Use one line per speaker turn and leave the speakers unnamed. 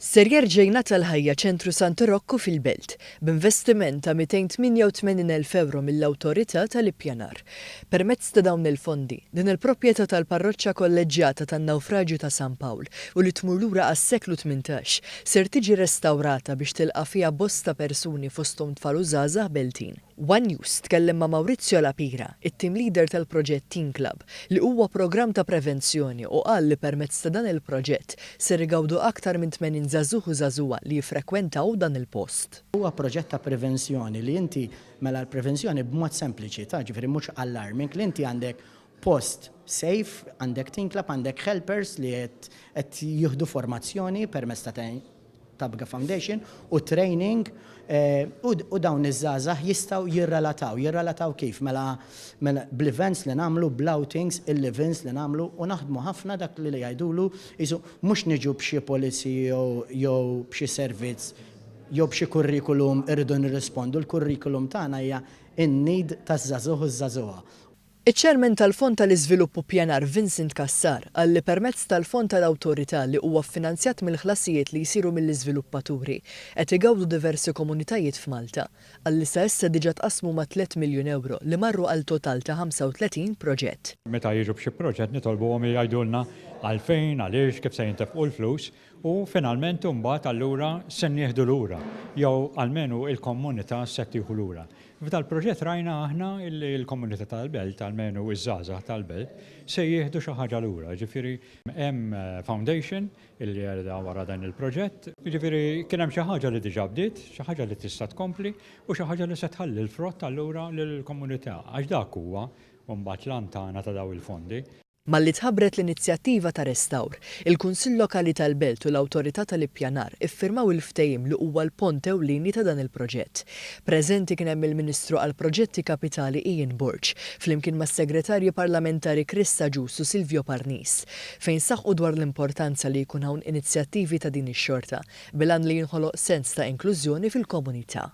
Ser jerġa' jingħata l-ħajja Ċentru Santu Rokku fil-Belt, b'investiment ta' 288 elf ewro mill-Awtorità tal-Ippjanar. Permezz ta' dawn il-fondi, din il-proprjetà tal-Parroċċa Kolleġġjata tan-Nawfraġju ta' San Pawl u li tmur lura għas-seklu tmintax, ser tiġi restawrata biex tilqa' fiha bosta persuni fosthom tfal u żgħażagħ Beltin. One News tkellem ma' Maurizio La Pira, it-team leader tal-proġett Teen Club, li huwa programm ta' prevenzjoni u qal li permezz ta' dan il-proġett ser igawdu aktar minn 80 żagħżugħ u żagħżugħa li jiffrekwentaw dan il-post. Huwa proġett ta'
prevenzjoni li inti, mela l-prevenzjoni b'mod sempliċi ta' ġifieri mhux alarming li inti għandek post safe, għandek tinklab, għandek helpers li qed jieħdu formazzjoni permezz ta' Tabga Foundation u training u dawn iż-żgħażagħ jistgħu jirrelataw. Jirrelataw kif? Mela, mela bl-events li nagħmlu, bl-outings, il-live-ins li nagħmlu u naħdmu ħafna dak li jgħidulu qisu mhux niġu b'xi policy jew b'xi servizz jew b'xi curriculum irridu nirrispondu, il-curriculum tagħna hija n-need taż-żagħżugħ u ż-żagħżugħa. Iċ-Chairman
tal-Fond tal-Iżvilupp u Ppjanar Vincent Cassar qal li permezz tal-Fond tal-Awtorità li huwa ffinanzjat mill-ħlasijiet li jsiru mill-iżviluppaturi qed igawdu diversi komunitajiet f'Malta. Qal li sa issa diġa tqassmu ma' tliet miljun ewro li marru għal total ta' 35 proġett. Meta jiġu b'xi proġett
nitolbuhom jgħidulna għalfejn, għaliex, kif se jintefqu l-flus. U finalment imbagħad allura se nieħdu lura, jew almenu l-komunità se tieħu lura. F'dal-proġett rajna aħna li l-komunità tal-belt, almenu ż-żgħażagħ tal-belt, se jieħdu xi ħaġa lura. Jiġifieri hemm foundation li qiegħda wara dan il-proġett. Jiġifieri kien hemm xi ħaġa li diġà bdiet, xi ħaġa li tista' tkompli u xi ħaġa li se tħalli l-frott allura lill-komunità. Għax dak huwa imbagħad l-għan tagħna ta' dawn il-fondi. Malli tħabbret
l-inizjattiva ta' restawr, il-Kunsill Lokali tal-Belt u l-Awtorità tal-Ippjanar iffirmaw il-ftehim li huwa l-pont ewlieni ta' dan il-proġett. Preżenti kien hemm il-Ministru għall-Proġetti Kapitali Ian Borg, flimkien mas-Segretarji Parlamentari Chris Agius u Silvio Parnis, fejn saħqu dwar l-importanza li jkun hawn inizjattivi ta' din ix-xorta bil-għan li jinħoloq sens ta' inklużjoni fil-komunità.